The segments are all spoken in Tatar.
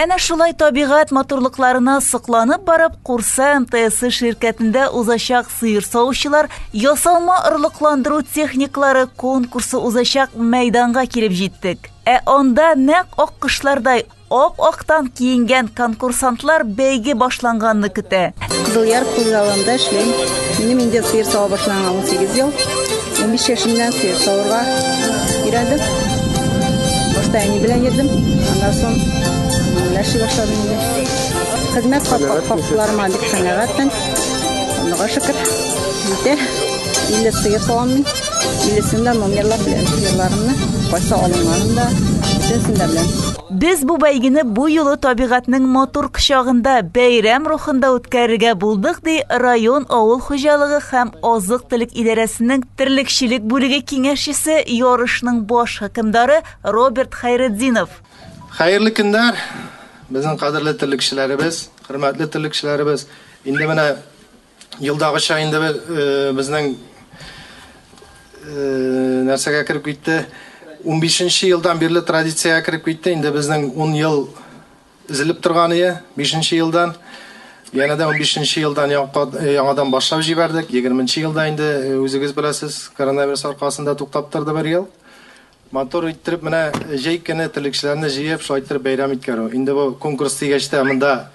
Әнә шулай табигать матурлыкларына сокланып барып, Курса МТСы ширкәтендә узачак сыер савучылар ясалма орлыкландыру техникалары конкурсы узачак мәйданга килеп җиттек. Ә анда нәкъ аккошлардай ап-актан киенгән конкурсантлар бәйге башланганны көтә. Кызылъяр хуҗалыгында эшлим. Минем инде сыер сава башланга 18 ел. 15 яшемнән сыер савырга өйрәндем. Башта әни белән йөрдем. Аннан соң ләши башладым инде. Хезмәт хакларыма бик канәгатьмен. Аллага шөкер. Җитә. 50 сыер савам мин. 50 сында номерлар белән сыерларымны кайсы алынганын да, бөтенсен дә беләм. Без бу бәйгене бу юлы табигатьнең матур кочагында, бәйрәм рухында үткәрергә булдык, ди район авыл хуҗалыгы һәм азык-төлек идарәсенең терлекчелек бүлеге киңәшчесе, ярышның баш хөкемдары Роберт Хәйретдинов. Хәерле көннәр, безнең кадерле терлекчеләребез, хөрмәтле терлекчеләребез! Инде менә Елдагыча инде безнең нәрсәгә кереп китте? 15 нче елдан бирле традициягә кереп китте. Инде безнең 10 ел изелеп торган ие, 5 нче елдан. Янә дә 15 нче елдан яңадан башлап җибәрдек. 20 нче елда инде үзегез беләсез, коронавирус аркасында туктап торды бер ел. Матур иттереп менә җәй көне терлекчеләрне җыеп, шулай иттереп бәйрәм иткәрү. Инде бу конкурс дигәч тә монда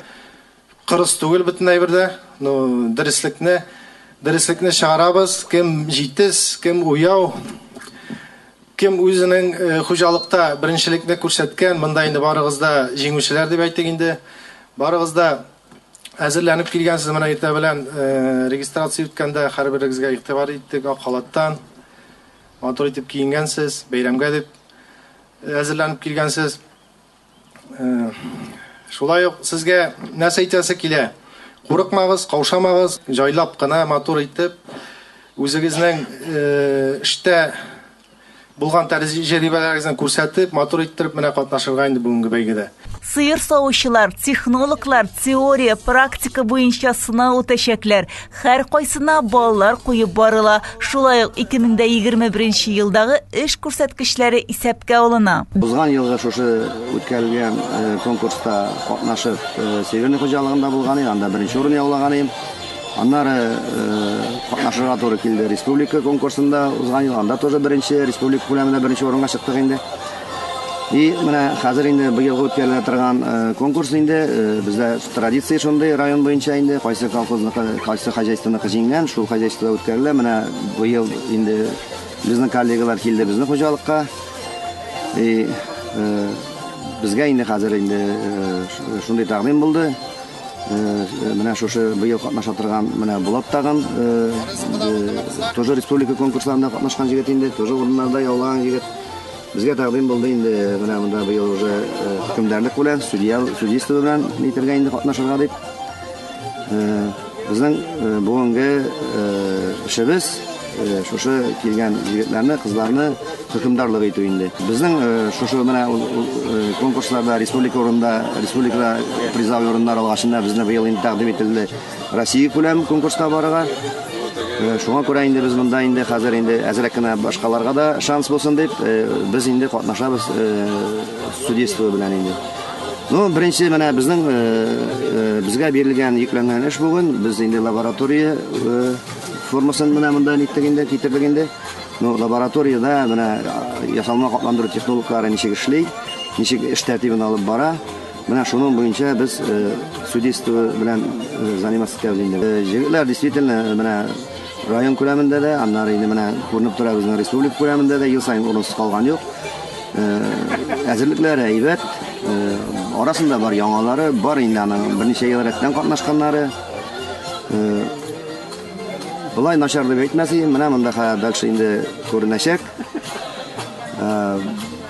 Кырыс түгел бөтен әйбер дә. Ну, дөреслекне, дөреслекне чыгарабыз. Кем җитез, кем уяу, кем үзенең э, хуҗалыкта беренчелекне күрсәткән, монда инде барыгыз да җиңүчеләр дип әйтик инде. Барыгыз да әзерләнеп килгәнсез менә иртә белән э, регистрация үткәндә һәрберегезгә игътибар иттек ак халаттан. Матур итеп киенгәнсез, бәйрәмгә дип әзерләнеп килгәнсез. Шулай ук сезгә нәрсә әйтәсе килә? Курыкмагыз, каушамагыз, җайлап кына, матур итеп, үзегезнең эштә булган тәҗрибәләрегезне күрсәтеп, матур иттереп менә катнашырга инде бүгенге бәйгедә. Сыер савучылар, технологлар теория, практика буенча сынау үтәчәкләр. Һәркайсына баллар куеп барыла. Шулай ук 2021 елдагы эш күрсәткечләре исәпкә алына. Узган елгы шушы үткәрелгән э, конкурста катнашып, э, Северный хуҗалыгында булган идем, анда беренче урын яулаган идем. Аннары катнашырга туры килде республика конкурсында узган ел анда тоже беренче республика күләмендә беренче урынга чыктык инде. И менә хәзер инде быелгы үткәрелә торган э, конкурс инде э, бездә традиция шундый район буенча инде кайсы колхозныкы, кайсы хозяйствоныкы җиңгән, шул хозяйствода үткәрелә. Менә быел инде безнең коллегалар килде безнең хуҗалыкка. И э, безгә инде хәзер инде шундый тәкъдим булды. Менә шушы быел катнаша торган менә Булат тагын тоже республика конкурсларында катнашкан җегет инде, тоже урыннарда яулаган җегет. Безгә тәкъдим булды инде менә монда быел уже хөкемдарлык белән, судья, судейство белән әйтергә инде катнашырга дип. Безнең бүгенге эшебез шушы килгән егетләрне, кызларны хөкемдарлык итү инде. Безнең шушы менә конкурсларда республика урында, республикада призовой урыннар алгачында безне быел инде тәкъдим ителде. Россия күләм конкурска барырга. Э, шуңа күрә инде без монда инде хәзер инде әзрәк кенә башкаларга да шанс булсын дип, э, без инде катнашабыз э, студентлыгы белән инде. Ну, беренче менә безнең безгә бирелгән йөкләнгән эш бүген, без инде лаборатория формасын менә монда ниттек инде, китердек инде. Ну, лабораториядә менә ясалма катландыру технологияләре ничек эшли, ничек эш тәртибен алып бара. Менә шуның буенча без судейство белән заниматься итәбез инде. Җегетләр действительно менә район күләмендә дә, аннары инде менә күренеп тора безнең республика күләмендә дә ел саен урынсыз калган юк. Әзерлекләре әйбәт, арасында бар яңалары, бар инде аның берничә ел рәттән катнашканнары. Болай начар дип әйтмәс идем, менә монда хәбәр инде күренәчәк.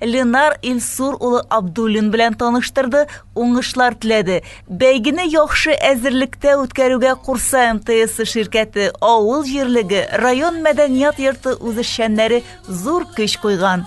Ленар Илсур улы Абдуллин белән таныштырды, уңышлар теләде. Бәйгене яхшы әзерлектә үткәрүгә Курса МТС ширкәте, авыл җирлеге, район мәдәният йорты үзешчәннәре зур көч куйган.